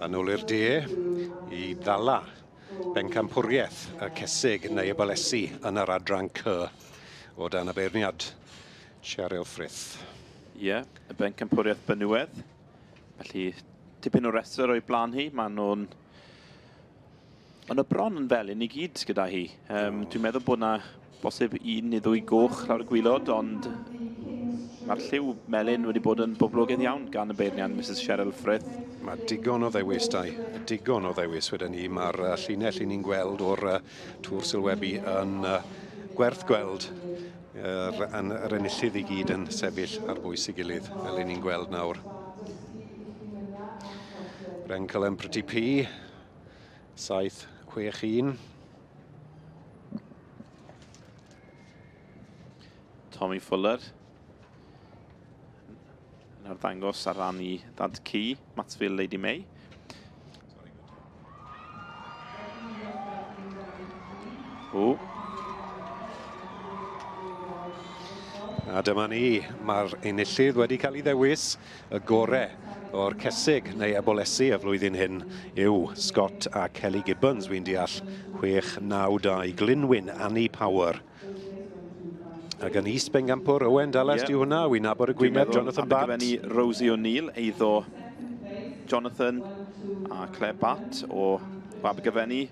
Yn ôl i'r de, i ddala bencampwriaeth y cesig neu y balesi yn yr adran cy o dan y beirniad Cheryl Frith. Ie, yeah, y bencampwriaeth benywedd. Felly, tipyn o restr o'i blaen hi. Maen nhw'n Ond y bron yn fel un i gyd gyda hi. Um, oh. Dwi'n meddwl bod yna bosib un neu ddwy goch lawr y gwylod, ond mae'r lliw melyn wedi bod yn boblogaidd iawn gan y beirnian Mrs Cheryl Frith. Mae digon o ddewis, dau. Digon o ddewis, wedi'n ni. Mae'r uh, llinell i ni'n gweld o'r uh, tŵr sylwebu yn uh, gwerth gweld yr, yn, yr enillydd i gyd yn sefyll ar bwys i gilydd, fel i ni'n gweld nawr. Rencolem Pretty P, 761. Tommy Fuller yn arddangos ar ran i Dad Cu, Matsville Lady May. O. A dyma ni, mae'r enillydd wedi cael ei ddewis. Y gore o'r cesig neu ebolesi y flwyddyn hyn yw Scott a Kelly Gibbons, wi'n deall, 6-9-2, Glynwyn, Annie Power. Ac yn East Bengampwr, Owen Dallas, yeah. di hwnna, wi'n nabod y gwyneb, Jonathan Bat. Dwi'n meddwl, Rosie O'Neill, eiddo Jonathan a Claire Bat o Abergyfenni.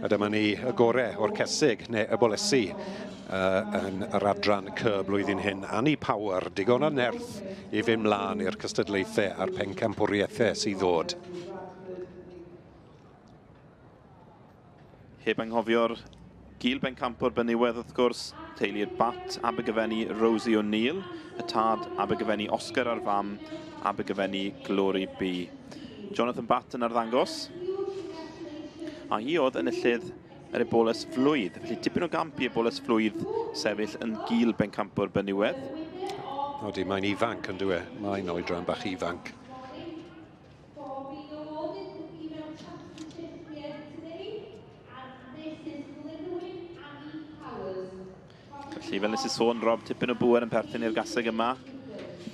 A dyma ni y gore o'r cesig, neu y bolesi, uh, yn yr adran cy blwyddyn hyn. Annie Power, digon o nerth i fynd mlaen i'r cystadlaethau a'r pencampwriaethau sydd ddod. Heb anghofio'r Gul Bencampwr Benywaidd wrth gwrs, teulu'r Batt, Abergyfenni Rosie O'Neill, y tad, Abergyfenni Oscar a'r fam, Abergyfenni Glory Bee. Jonathan Batt yn arddangos. A hi oedd enillydd yr eboles flwydd, felly tipyn o gamp i eboles flwydd sefyll yn gil bencampwr Benywedd. Odi, mae'n ifanc yn dwi e, mae'n oedran bach ifanc. Ar Misus Glynwen Annie Powers. Felly, fel nes i sôn, Rob, tipyn o bŵer yn perthyn i'r gaseg yma.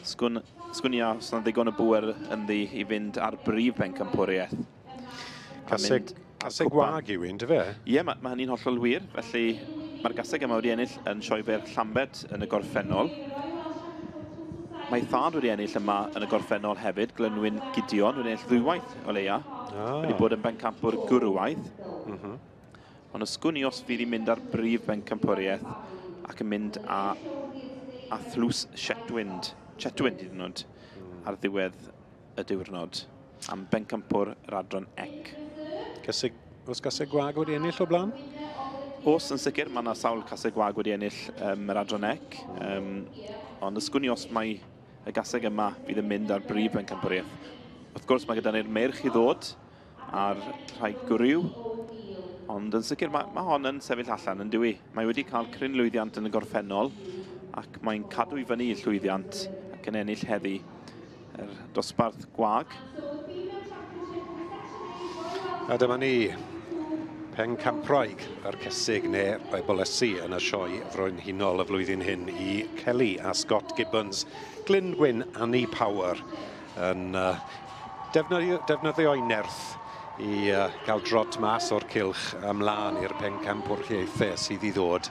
Sgwn, sgwn i a os yna ddigon o bŵer ynddi i fynd ar brif bencampwriaeth. Caseg, caseg wag yw un, dy fe? Ie, mae, mae hynny'n hollol wir. Felly, mae'r gaseg yma wedi ennill yn sioe fer Llambed yn y gorffennol. Mae thad wedi ennill yma yn y gorffennol hefyd, Glynwyn Gideon, wedi ennill ddwywaith o leia. Ah. Wedi bod yn bencampwr gwrywaidd. Mm -hmm. Ond os gwn i os fydd i'n mynd ar brif bencampwriaeth ac yn mynd â, a thlws Shetwind, Chetwind hyd yn oed, mm. ar ddiwedd y diwrnod am bencampwr yr adran ec. Casig, os gaseg gwag wedi ennill o blaen? Os yn sicr, mae yna sawl caseg gwag wedi ennill um, yr adran ec. Um, ond ysgwn i os mae Y gaseg yma fydd yn mynd ar brif bencampwriaeth. Wrth gwrs mae gyda ni'r meirch i ddod ar rhai gwryw. Ond yn sicr mae, mae hon yn sefyll allan yn dwi. Mae wedi cael cryn lwyddiant yn y gorffennol ac mae'n cadw i fyny llwyddiant ac yn ennill heddi yr dosbarth gwag. A dyma ni, Pencampwraig a'r Cesig neu Ebolesi yn y sioe frenhinol y flwyddyn hyn i Kelly a Scott Gibbons, Glyn Gwyn Annie Power yn uh, defnyddio, defnyddio'i nerth i uh, gael drot mas o'r cilch ymlaen i'r pencampwriaethau sydd i ddod.